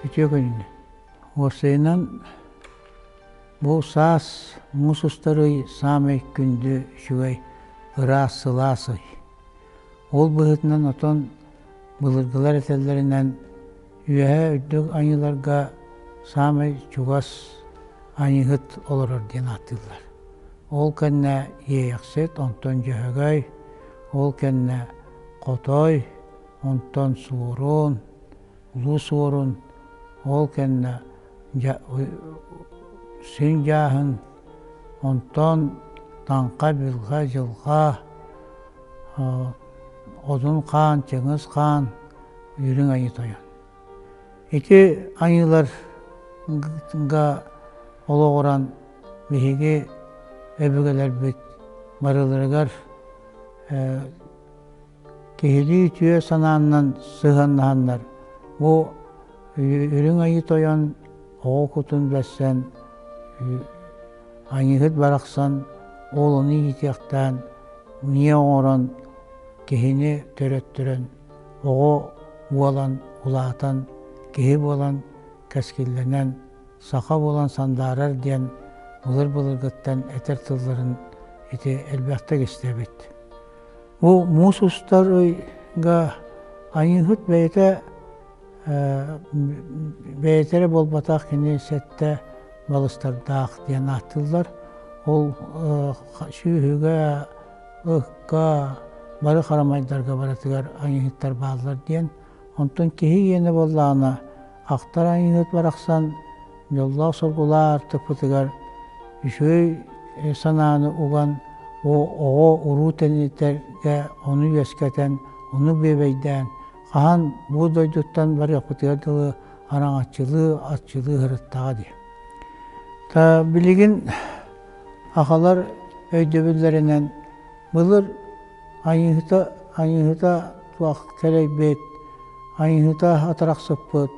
Үтүө күн. Уопсайынан бу саас муус устар ый саамай күндү, үчүгэй, ыраас, сылаас ый. Ол быһыытынан отон былыргылар этэллэринэн Үөһэ Үрдүк Аньыыларга саамай чугас Аньыыһыт олорор диэн ааттыыллар. Ол кэннэ Иэйэхсит, онтон Дьөһөгөй, ол кэннэ Хотой, онтон Суорун, Улуу Суорун, ол кэннэ Син Дьааһын, Онтон таҥха, бүлҕэ, дьылҕаа, одун хаан, чыҥыс хаан, үрүҥ айыы тойон. Ити айыыларга олоҕуран биһиги өбүгэлэрбит барыларыгар Киһилии үтүө санааннан сыһыаннаһаннар, бу Үрүҥ Айыы Тойон оҕо кутун билсэн, Аньыыһыт барахсан уолуну иитиэхтээн миэ оҥорон, киһини төрөттөрөн, оҕо буолан улаатан, киһи буолан кэскиллэнэн, саха буолан сандаарар диэн былыр-былыргыттан этэр тылларын ити элбэхтик истэбит. Бу муус устар ыйга Айыыһыт бэйэтэ бэйэтэ эрэ буолбатах кини сэттэ балыстардаах диэн ааттыыллар. Ол сүөһүгэ, ыкка, бары харамайдарга барытыгар айыыһыттар бааллар диэн Онтон киһи иэнэ буоллаҕына, ахтар айыыһыт барахсан дьоллоох-соргулаах аартыкпытыгар үчүгэй санааны уган, оҕо уруу тэнитэргэ ону үөскэтэн, ону бүөбэйдээн, хаһан бу дойдуттан барыахпытыгар дылы араҥаччылыы, аччылыы сырыттаҕа дии. Билигин ахалар өйдөбүллэринэн былыр Айыыһыта, айыыһыта туох кэлэйбит, айыыһыта атарахсыппыт,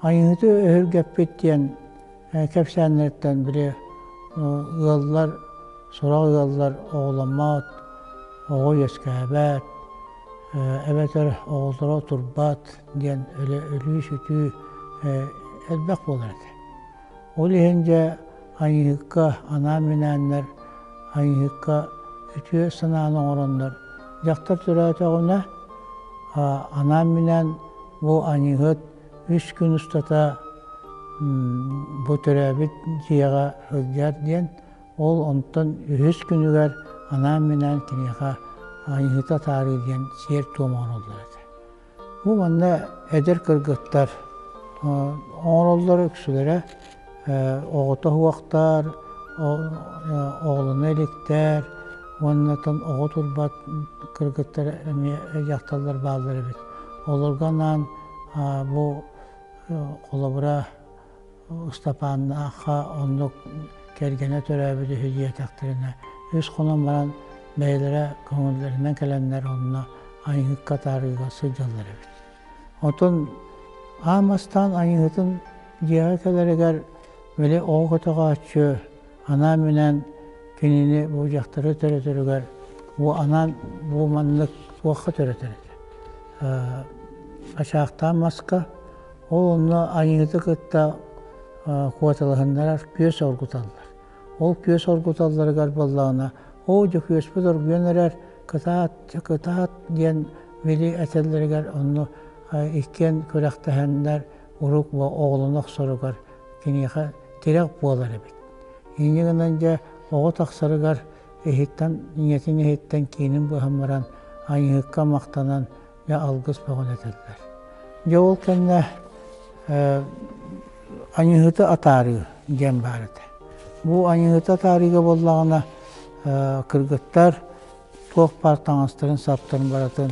айыыһыты өһүргэппит диэн кэпсээннэриттэн били ыаллар, сорох ыаллар оҕоломмот, оҕо үөскээбэт, эбэтэр оҕолоро турбат диэн өлүү-сүтүү элбэх буолар этэ. Ол иһин дьэ айыыһыкка анаан минээннэр, айыыһыкка үтүө санааны оҥороннор дьахтар төрөөтөҕүнэ, анаан минээн бу айыыһыт үс күн устата бу төрөөбүт дьиэҕэ сылдьар диэн ол онтон үһүс күнүгэр анаан минээн киниэхэ айыыһыта атаарыы диэн сиэр-туом оҥороллор этэ. Бу манна эдэр кыргыттар оҥороллоро үксүлэрэ оҕото уһуохтаар, оҕолоно иликтэр уонна оҕо турбат кыргыттар эмиэ дьахталлар бааллар эбит. Олорго анаан бу холобура Ыстапааннаахха оннук кэргэнэ төрөөбүт үһү диэтэхтэринэ, үс хонон баран бэйэлэрэ көҥүллэринэн кэлэннэр онно айыҥыкка таарыыга сылдьаллар эбит. Отон аам астаан айыҥытын дьиэҕэ кэлэригэр били оо көтөҕөөччү анаан-минээн кинини бу дьахтары төрөтөрүгэр бу анаан бу маннык туохха төрөтөр этэ ачаахтаан маска ол онно айыыты кытта куоталаһыннарар күөс оргуталлар ол күөс оргуталларыгар буоллаҕына оо дьөкүөспүт оргуйан эрэр кытаат кытаат диэн били этэллэригэр онно иккиэн күрэхтэһэннэр урукку оҕолоно охсоругар киниэхэ тирэх буолар эбит. Инньэ гынан дьэ оҕо тахсарыгар иһиттэн ийэтин иһиттэн киинин быһан баран айыыһыкка махтанан дьэ алгыс бөҕөн этэллэр. Дьэ ол кэннэ айыыһыты атаарыы диэн баар этэ. Бу айыыһыты атаарыыга буоллаҕына кыргыттар туох баар таҥастарын саптарын барытын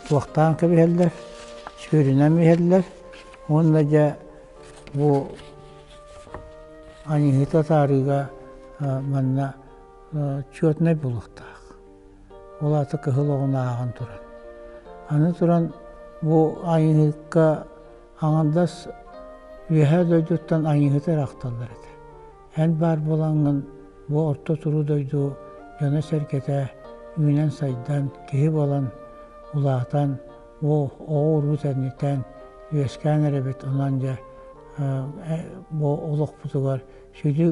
туохтаан кэбиһэллэр, сүүрүнэн иһэллэр уонна дьэ бу аньыыһыты атаарыыга манна четнай булуохтаах. Ол аата кыһыл оҕун ааҕан туран. Аны туран бу аньыыһыкка аҥардас Үөһээ дойдуттан аньыыһыты эрэ ахталлар этэ. Эн баар буолаҥҥын бу орто туруу дойду дьоно-сэргэтэ үүнэн-сайдан, киһи буолан улаатан, ол оҕо-урут эннитэн үөскээн эрэбит онон дьэ бу олохпутугар сүдү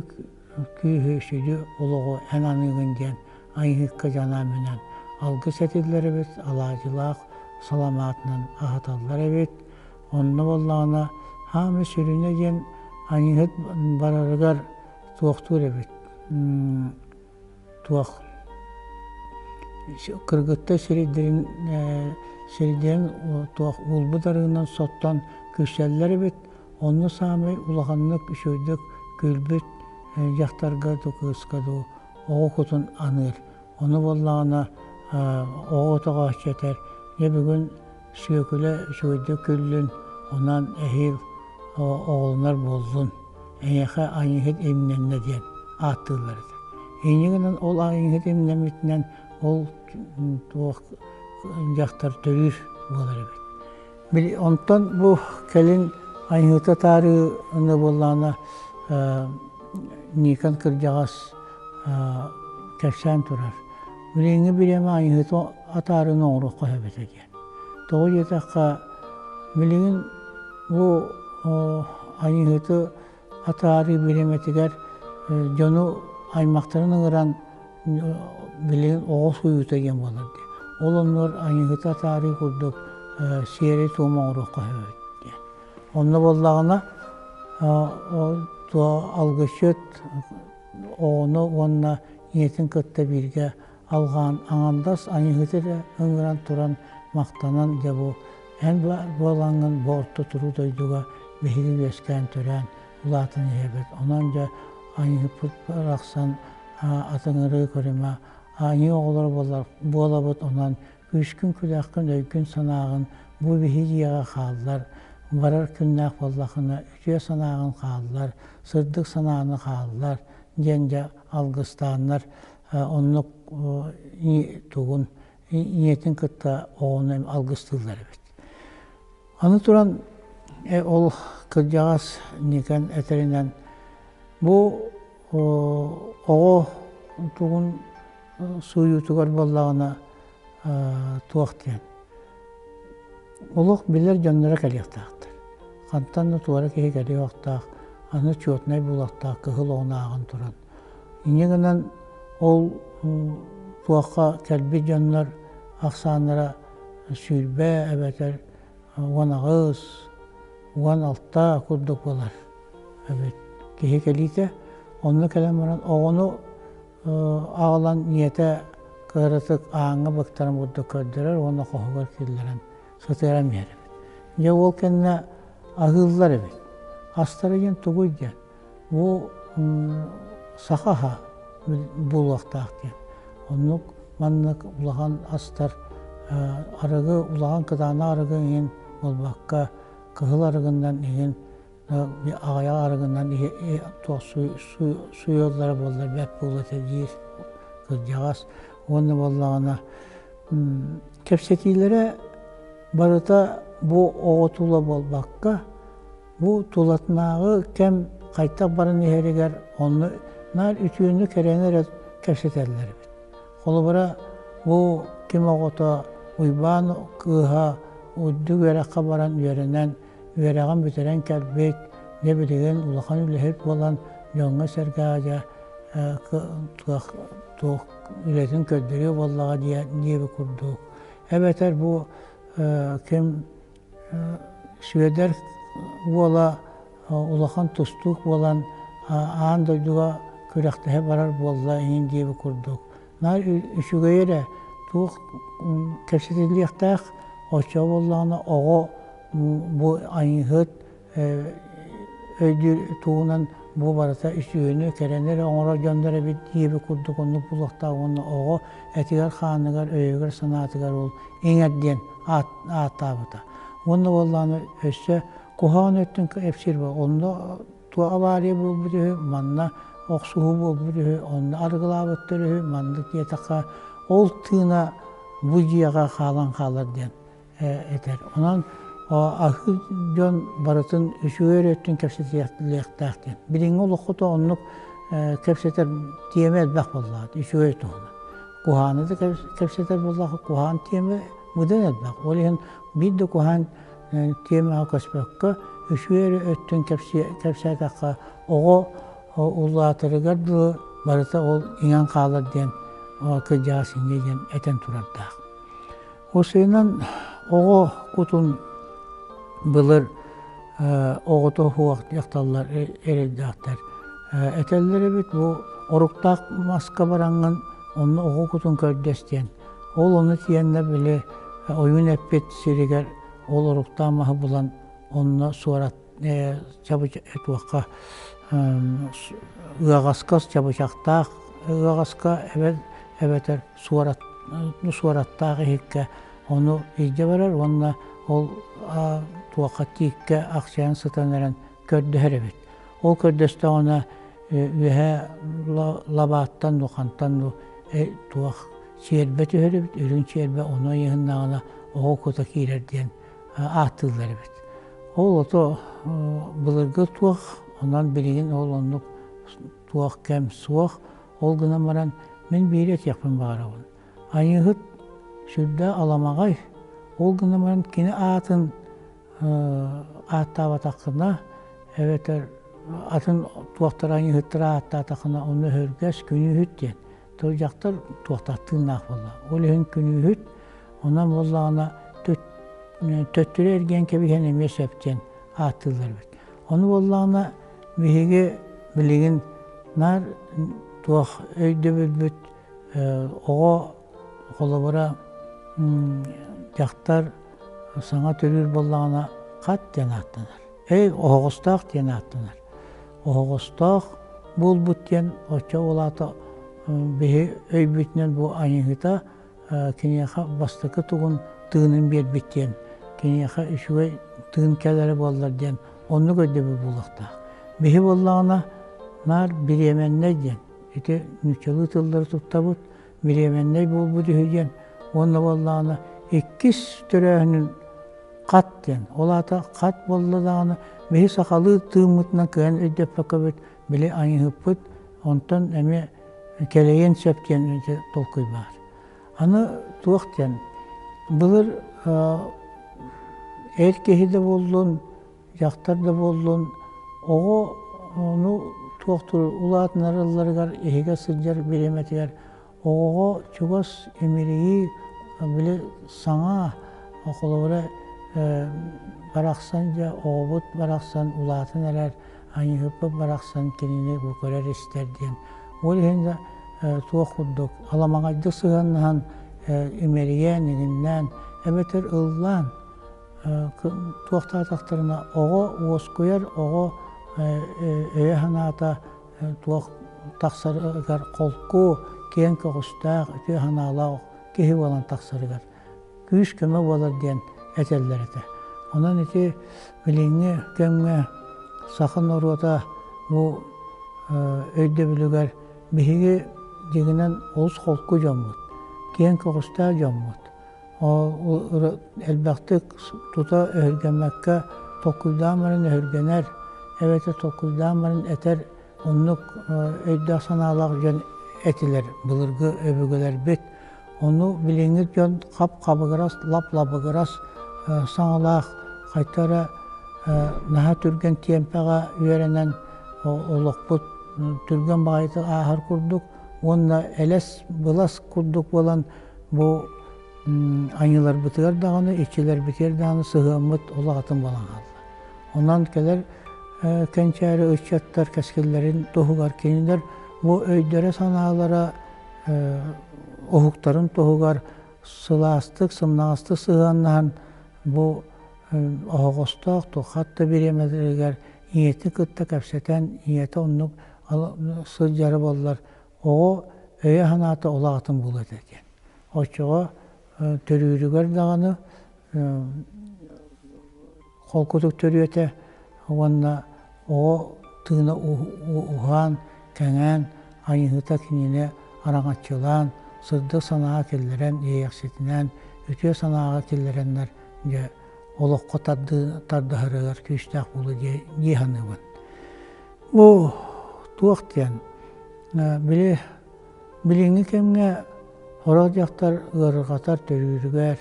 күүһү, сүдү олоҕу эн аныыгын диэн айыыһыкка дьанаамынан алгыс этиллэр эбит, алаадьылаах саламаатынан аһаталлар эбит. Онно буоллаҕына, хаамыы сүрүнэ диэн аньыыһыт барарыгар туохтуур эбит. Туох кыргыттай сиридэрин сиридэрин туох уолбут арыынан соттон күрсэллэр эбит. Онно саамай улаханнык үчүгэйдик күлбүт дьахтарга дуу, кыыска дуу оҕо кутун аныыр. Ону буоллаҕына оҕо отоҕо аччатар. Дьэ бүгүн Сүөкүлэ үчүгэйдик күллүн, онон эһиил оҕолонор буоллун, эйиэхэ айыыһыт имнэннэ диэн ааттыыллар этэ. Иннигинэн ол айыыһыт имнэммитинэн ол туох дьахтар төрүүр буолар эбит. Били онтон бу кэлин айыыһыта таарыыны буоллаҕына Никон кырдьаҕас кэпсээн турар. Билиҥҥи бириэмэ айыһыты атаарыны оҥоруох хоһобото диэн. Тоҕо диэтэххэ, билигин бу айыһыты атаарыы бириэмэтигэр дьону аймахтарын ыҥыран билигин оҕо сууйуута диэн буолар диye. Ол оннугар айыһыты атаарыы курдук сиэри-туому оҥоруох хоһобот диэн. Онно буоллаҕына алгысчыт оҕону уонна ийэтин кытта бииргэ алҕаан аҥардас Айыыһыты ыҥыран туран махтанан дьэ бу эн буолаҥҥын бу орто туруу дойдуга биһиги үөскээн төрөөн улаатан иһэбит онон дьэ Айыыппыт барахсан атыҥырыы көрүмэ Айыы оҕолоро буолабыт онон күүскүн күлээххин өйгүн санааҕын бу биһиги дьиэҕэ хааллар барар күннээх буоллахына үтүө санааҕын хааллар сырдык санааны хааллар диэн дьэ алгыстааннар оннук тугун ийэтин кытта оҕону алгыстыыллар эбит. Аны туран ол кырдьаҕас Никон этэринэн бу оҕо тугун сууйуутугар буоллаҕына туох диэн олох билэр дьонноро кэлиэхтээхтэр хантан да туора киһи кэлиэхтээх аны четнай булуохтаах кыһыл оҕунааҕын туран иньи гынан ол туохха кэлбит дьоннор ахсааннара сүүрбэ эбэтэр уон аҕыс уон алта курдук буолар эбит киһи кэлиитэ онно кэлэн баран оҕону аҕалан ийэтэ кыратык ааҥҥа быктаран бурдук көрдөрөр уонна хоһугар киллэрэн сытыаран биэрэбит. Дьэ уол кэннэ аһыыллар эбит. Астара диэн тугуй диэн, бу саха аһа булуохтаах диэн. Оннук маннык улахан астар арыгы, улахан кытаанах арыгы иһин, буолбакка, кыһыл арыгыннан иһин аҕыйах арыгынан суйуллара буоллар бэрт буолуо этэ диир кырдьаҕас уонна буоллаҕына кэпсэтиилэрэ барыта бу оҕо тула буолбакка бу тулатынааҕы кэм хайтах баран иһэригэр онну наар үтүөнү кэрэни эрэ кэпсэтэллэр эбит холобура бу ким оҕото уйбаан кыыһа үрдүк үөрэххэ баран үөрэнэн Үөрэҕин бүтэрэн кэлбит, дьэ билигин улахан үлэһит буолан дьоҥҥо-сэргэ аадьа туох үлэтин көрдөрүө буоллаҕа диэн диэби курдук. Эбэтэр бу ким Сүөдэр уола улахан тустуук буолан аан дойдуга күрэхтэһэ барар буолла иһин диэби курдук Наар үчүгэйи эрэ туох кэпсэтиллиэхтээх оччо буоллаҕына оҕо бу айыыһыт өйдүүр туһунан бу барыта үсүһүнү кэрэни эрэ оҥорор дьоннор эбит диэби курдук оннук буолуохтаах уонна оҕо этигэр-хааныгар, өйүгэр-санаатыгар ол иҥэр диэн ааттаабыта. Уонна буоллаҕына өссө куһаҕан өттүн кэпсиир онно Туох авария буолбут үһү, манна охсуһуу буолбут үһү, онно арыгылаабыттар үһү, маннык диэтэххэ, ол тыына бу дьиэҕэ хаалан хаалар диэн этэр. Онон аһыы дьон барытын үчүгэй өрүөттүн кэпсэтиэхтээх диэн. Билиҥҥи олоххото оннук кэпсэтэр тиэмэ элбэх буоллаҕа, үчүгэй туһунан. Куһааны да кэпсэтэр буоллаҕа, куһаан тиэмэ быдан элбэх. Ол иһин биир да куһаан тиэмэҕэ көспөккө, үчүгэй эрэ өттүн кэпсээтэххэ, оҕо улаатарыгар дылы барыта ол иҥэн хаалар диэн кырдьаҕас ингэ диэн этэн турардаах. Усуйунан оҕо кутун былыр оҕото суох дьахталлар эрэйдэхтэр этэллэр эбит бу оруктаах маска бараҥҥын онно оҕо кутун көрдөс диэн Ол ону тиэннэ били ойуун эппит сиригэр ол оруктаан маһы булан онно суорат туохха ыаҕаскас чабычахтаах ыаҕаска эбэтэр суорат суораттаах иһиккэ ону илдьэ барар уонна ол туохха тииккэ ахсайан сытан эрэн көрдөһөр эбит. Ол көрдөстөҕүнэ үөһэ лабааттан ну хантан ну туох сиэрбэ түһэр эбит, үрүҥ сиэрбэ ону ыйыһыннаҕына оҕо кута киирэр диэн ааттыыллар эбит. Ол ото былыргы туох, онон билигин ол оннук туох кэм суох, ол гынан баран мин биири этиэхпин баҕарабын. Айыыһыт сүрдэ аламаҕай, ол гынан баран кини аатын ааттаабатаххына эбэтэр атын туохтара аньыыһыттара ааттаатахына ону өһүргэс күнүүһүт диэн тыл дьахтар туохтар тыыннаах буолла ол иһин күнүүһүт онон буоллаҕына төттөрү эргиэн кэбиһэн эмиэ сөп диэн ааттыыллар эбит ону буоллаҕына биһиги билигин наар туох өйдөбүлбүт оҕо Холобура, дьахтар саҥа төрүүр буоллаҕына хат диэн ааттанар. Эй, оһоҕостоох диэн ааттанар. Оһоҕостоох буолбут диэн оччо ол аата биһи өйбүтүнэн бу айыһыта киниэхэ бастакы тугун тыынын биэрбит диэн, киниэхэ үчүгэй тыын кэлэрэ буоллар диэн оннук өйдөбүл буолуохтаах. Биһи буоллаҕына наар бириэмэннэй диэн ити нууччалыы тыллары туттабыт, бириэмэннэй буолбут үһү диэн уонна буоллаҕына иккис төрөөһүнүн хат диэн ол аата хат буолла даҕаны биһи сахалыы тыыммытынан кыһан өйдөппөккө бит били айыһыппыт онтон эмиэ кэлэйиэн сөп диэн толкуй баар аны туох диэн былыр эр киһи да буоллун Дьахтар да буоллун, оҕо ону туохтур улаатынарылларыгар иһигэ сылдьар бириэмэтигэр оҕоҕо чугас имирийии били саҥа холобура барахсан дьэ оҕобут барахсан улаатан эрэр аньыыппыт барахсан кинини бу көрөр-истэр диэн ол иһин да туох курдук аламаҕайдык сыһыаннаһан имэрийээн иҥиннээн эбэтэр ыллаан туохтаатахтарына оҕо уоскуйар оҕо өйө-санаата туох тахсарыгар холку киэҥ көҕүстээх үтүө санаалаах киһи буолан тахсарыгар күүс-көмө буолар диэн этэллэр этэ онон ити билиҥҥи кэмҥэ саха норуота бу өйдөбүлүгэр биһиги дьиҥинэн олус холку дьоммут киэҥ көҕүстээх дьоммут элбэхтик тута өһүргэммэккэ толкуйдаан баран өһүргэнэр эбэтэр толкуйдаан баран этэр оннук өйдөөх-санаалаах дьон этилэр былыргы өбүгэлэрбит ону билиҥҥи дьон хап-хабыгырас лап-лабыгырас саҥалаах хайта эрэ наһаа түргэн тиэмпэҕэ үөрэнэн олохпут түргэн баҕайытык ааһар курдук уонна элэс былас курдук буолан Бу аньыыларбытыгар даҕаны, иччилэрбитигэр даҕаны сыһыаммыт олох атын буолан хаалла. Онон кэлэр кэнчээри ыччаттар кэскиллэрин туһугар кинилэр бу өйдөрө-санаалара уһуктарын туһугар сылаастык, сымнаҕастык сыһыаннаһан бу оһоҕостоох туох да бириэмэлэригэр ийэтин кытта кэпсэтэн ийэтэ оннук сылдьара буоллар оҕо өйө-санаата ол аҕатын булуо этэ диэн. Оччоҕо төрүүрүгэр даҕаны холкутук төрүөтэ уонна оҕо тыына уһаан, кэҥээн, айыһыта кинини араҥаччылаан, сырдык санааҕа киллэрэн, иэйэхситинээн, үтүө санааҕа киллэрэннэр дьэ олоххо тардыһарыгар күүстээх буолуо дии саныыбын. Бу туох диэн, били билиҥҥи кэмҥэ сорох дьахтар ыарырҕатар төрүүрүгэр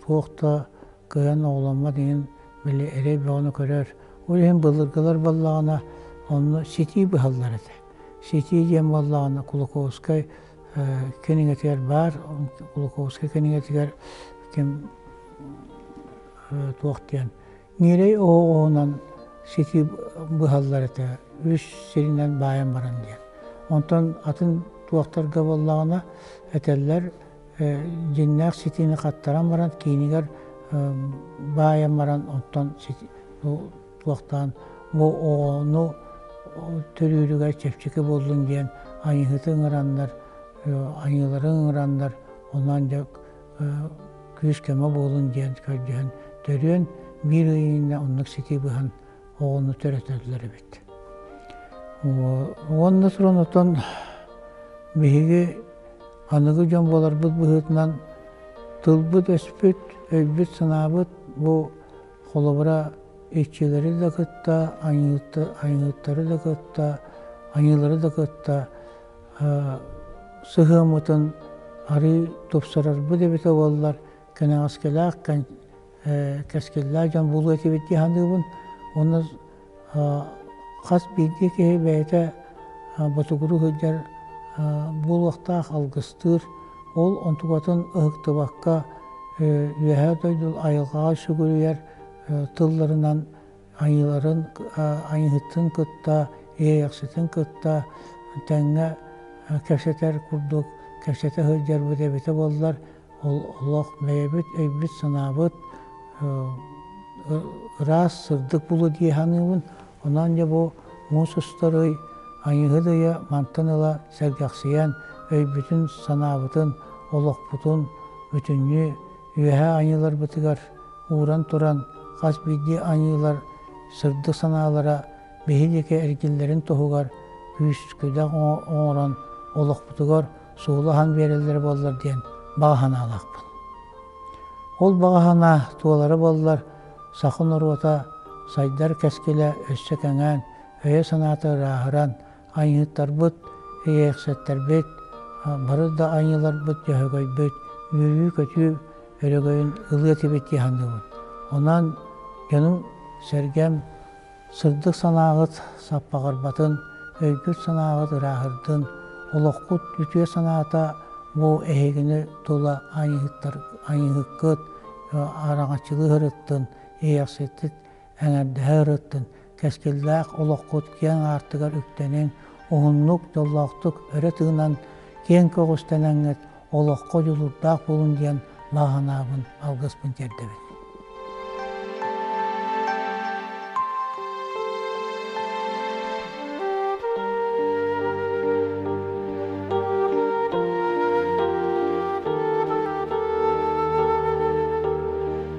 туох да кыайан оҕоломмот иһин били эрэй бөҕөнү көрөр, ол иһин былыргылар буоллаҕына онно ситии быһаллар этэ. Ситии диэн буоллаҕына Кулаковскай кинигэтигэр баар, Кулаковскай кинигэтигэр ким туох диэн Ньирэй оҕоҕунан ситии быһаллар этэ, үс сиринэн баайан баран диэн. Онтон атын туохтарга буоллаҕына этэллэр, дьиҥнээх ситиини хаттаран баран, киинигэр баайан баран, оттон туохтаан бу оҕону төрүүрүгэр чэпчэки буоллун диэн айыыһыты ыҥыраннар, айыылары ыҥыраннар, онон дьэ күүс-көмө буолун диэн көрдөһөн төрүөн биир ыйыҥҥа оннук ситии быһан оҕону төрөтөллөр эбит. Уонна туран отон биһиги аныгы дьон буоларбыт быһыытынан тылбыт-өспүт, өйбүт-санаабыт бу холобура иччилэри да кытта, айыыттары да кытта, айыылары да кытта сыһыаммытын арыый тупсарарбыт эбитэ буоллар кэнэҕэскилээх кэскиллээх дьон буолуо этибит дии саныыбын уонна хас биирдии киһи бэйэтэ ботугуру сылдьар буолуохтаах алгыстыыр ол онтукатын ыһыктыбакка үөһээ дойду айылҕаҕа сүгүрүйэр тылларынан Айыыларын Айыыһытын кытта, Иэйэхситин кытта тэҥҥэ кэпсэтэр курдук кэпсэтэ сылдьарбыт эбитэ буоллар, олох бэйэбит өйбүт-санаабыт ыраас, сырдык булу дии саныыбын. Онон дьэ бу муус устар ый Айыыһыт ыйа мантан ыла сэргэхсийэн өйбүтүн, санаабытын, олохпутун бүтүннүү Үөһээ Айыыларбытыгар ууран туран хас биирдии Айыылар сырдык санаалара биһиги эргиллэрин туһугар күүс-күдэх оҥорон олохпутугар суолу аһан биэрэллэрэ буоллар диэн баҕа санаалаахпын. Ол баҕа санаа туолара буоллар саха норуота сайдар кэскилэ өссө кэҥээн өйө-санаата ырааһыран, Айыыттарбыт, эйээксэттэрбит, бары да айыыларбыт дьөһөгөйбүт, үөрүү-көтүү өрөгөйүн ылыа этибит дии саныыбын. Онон дьонум, сэргэм сырдык санааҕыт саппаҕырбатын, өйгүт-санааҕыт ырааһырдын, олоххут үтүө санаата бу эһигини тула айыыһыккыт, араҥаччылыы ырыттын, эйээксэттит Эҥэрдэһэ ырыттын, кэскиллээх олоххут киэҥ аартыгар үктэниҥ, уһуннук, дьоллоохтук өрө тыынан, киэҥ көҕүстэнэҥҥит олоххо дьулурдаах буолун диэн бааһынаабын, алгыспын тиэрдэбин.